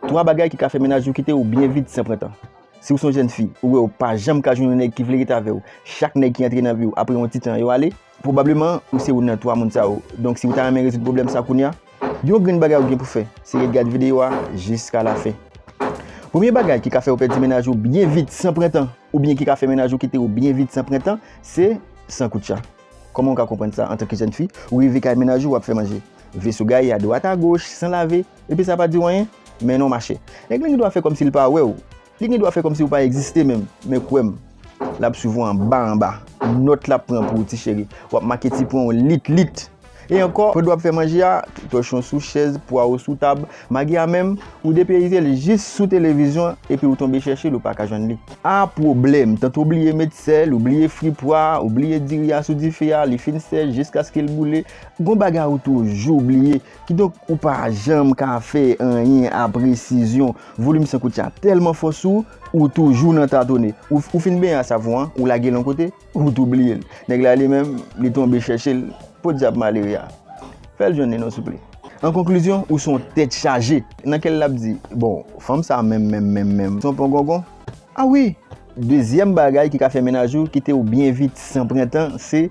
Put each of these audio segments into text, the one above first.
3 bagay ki ka fè mennaj ou kite ou byen vit san pran tan. Si ou son jèn fi, ou wè ou pa janm ka jwenn yon nèg ki vle ret avè ou, chak nèg ki antre nan vi ou apre yon ti tan yo ale, pwobableman ou se youn nan 3 moun sa yo, donk si ou ta renmen rezoud pwoblèm sa kounya, yon grenn bagay ou gen pou fè se ret gad videyo a jiska la fen. Premye bagay ki ka fè ou pèdi mennaj ou byen vit san pran tan, oubyen ki ka fè mennaj ou kite ou byen vit san pran tan, se san koutcha. Kòman ou ka konprann sa antanke jèn fi? Ou rive kay mennaj ou wap fè manje. Veso gaye adwat agoch san lave epi sa pa diw anyen? Men non machè. Nèg lan gen dwa fè kòmsi li pa wèw. Li gen dwa fè kòmsi ou pa egziste menm. Men kwèm. Lap swiv ou anba anba. Nòt lap pran pou ou ti cheri. Wap make ti pwen ou lit lit. E ankò, pandan w ap fè manje a, tòchon sou chèz, pwawo sou tab, magi a menm, ou depeyize l jis sou televizyon epi ou tonbe chèche l ou pa ka jwenn li. A pwoblèm! Tante w bliye met sèl, ou bliye fri pwa a, ou bliye diri a sou dife a, li fin sèch jiskaske l boule, gon bagay ou toujou bliye. Kidonk, ou pa janm ka fè anyen a presizyon. Volim san koutya tèlman fò sou ou, ou toujou nan tatone. Ou fin benyen a savon an, ou lage l yon kote, Ou tou bliye l. Nèg la li menm, li tonbe chèche l. Podyab malere a. Fè l jwenn li non souple. An konklizyon, ou son tèt chaje. Nan kè l lap di, bon, fanm sa menm menm menm menm son pongongon. A wi! Dezyèm bagay ki ka fè mennaj ou kite ou byen vit san pran tan se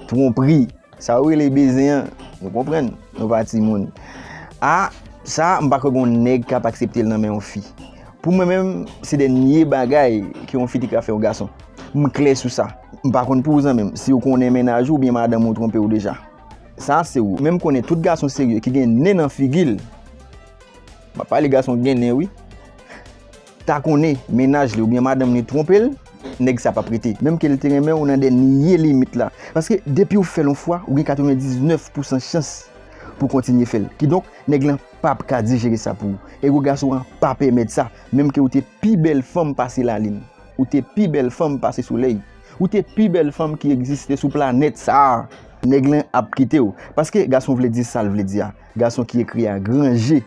twonpri. Sa ou rele beze an Nou konprann Nou pa timoun Ah sa m pa kwè gon nèg kap aksepte l nan men yon fi Pou mwen menm se dènye bagay ke yon fi te ka fè yon gason M klè sou sa M pa konn pou ou zanmi m si ou konnen mennaj ou oubyen madanm ou twonpe ou deja Sa se ou menm konnen tout gason serye ki gen nen nan figi l M ap pale gason ki gen nen wi. ta konnen mennaj li oubyen madanm li twonpe l nèg sa pap rete menm ke l te renmen w nan dènye limit la paske depiw fèl yon fwa ou gen 99 pousan chans pou w kontinye fèl kidonk nèg lan pap ka dijere sa pou ou ego gason an pa pèmèt sa menm ke ou te pi bèl fanm pase lalin ou te pi bèl fanm pase solèy ou te pi bèl fanm ki egziste sou planèt sa nèg lan ap kite w paske gason vle di sal vle di a gason ki ekri a gran je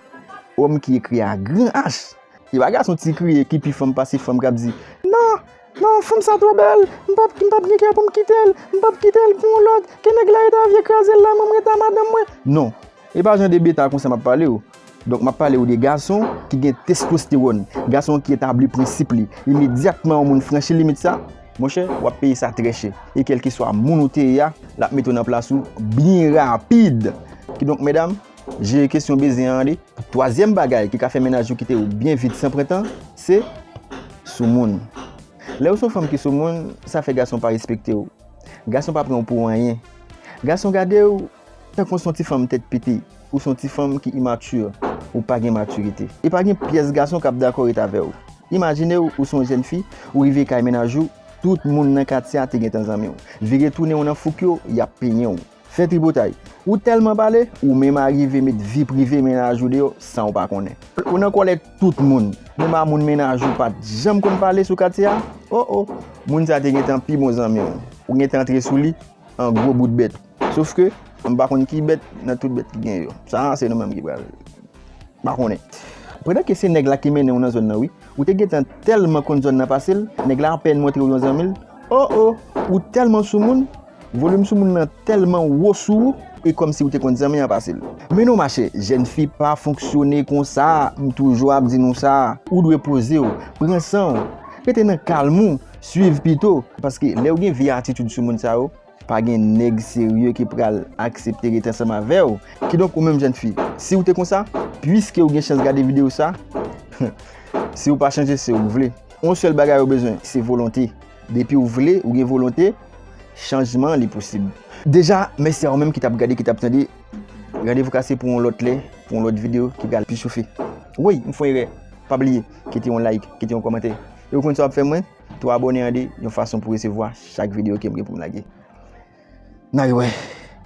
òm ki ekri a gran H. Se pa gason ti kriye ki pi fanm pase fanm kap di nan nan fanm sa twò bèl m pap m pap gen kè poum kitel m pap kitel pou yon lòt ke nèg la rete avye krazel la mwen m rete a madanm mwen non e pa jan de beta konsa map palew donk map palew de gason ki gen testostewòn gason ki etabli prensip li imedyatman yon moun franchi limit sa monchè wap peye sa trè chè e kelkeswa moun ou te ye a lap mete w nan plas ou byen rapid kidonk medam. Jere kesyon beze an ande. Twazyèm bagay ki ka fè mennaj ou kite ou byen vit san pran tan, se soumoun. Lè ou se yon fanm ki soumoun, sa fè gason pa respekte ou. Gason pa pran ou pou anyen. Gason gade ou tankou ou se yon ti fanm tèt pete, ou se yon ti fanm ki immature, ou pa gen matirite. E pa gen pyès gason k ap dakò ret avè ou. Imajine ou, ou se yon jèn fi, ou rive kay mennaj ou, tout moun nan katye a te gentan zanmi ou. Vire tounen ou nan fouk yo, y ap penyen ou. Fè tripotay. Ou tèlman pale, ou menm arive met vi prive mennaj ou deyò san ou pa konnen. Ou nan kòlè tout moun. Menm a moun mennaj ou pa t janm konn pale sou katye a. O o! Moun sa te gen tan pi bon zanmi w. Ou gen tan antre sou li an gwo bout bèt. Sof ke, m pa konn ki bèt nan tout bèt ki gen yo. Sa a se nou menm ki pral. M pa konnen. Pandan ke se nèg la ki mennen ou nan zòn nan wi. Ou te gen tan tèlman konn zòn nan pase l, nèg la apèn montre w yon zanmi l. O o! Ou tèlman soumoun, Volume sou moun nan telman wo sou ou e komsi ou te konn zanmi an pase l. Men non machè, jèn fi pa fonksyone konsa, m toujou ap di nou sa. Ou dwe poze w, pran san w, rete nan kalm ou, swiv pito. Paske lè ou gen vye atitid sou moun sa yo, pa gen nèg serye ki pral aksepte rete ansanm avè w. Kidonk ou menm jèn fi, si ou te konsa, pwiske ou gen chans gade videyo sa, si ou pa chanje se ou k vle. Yon sèl bagay ou bezwen, se volonte. Depi ou vle, ou gen volonte, chanjman li posib. Deja, mèsi a ou menm ki tap gade, ki tap tande. Randevou kase pou yon lòt lè, pou yon lòt videyo ki pral pi chofe. Woy, m fon erè. Pa bliye, kite yon like, kite yon kòmantè. E ou konn sa wap fè mwen? Tou abòne ande, yon fason pou resevwa chak videyo kem gen pou m lage. N al wè!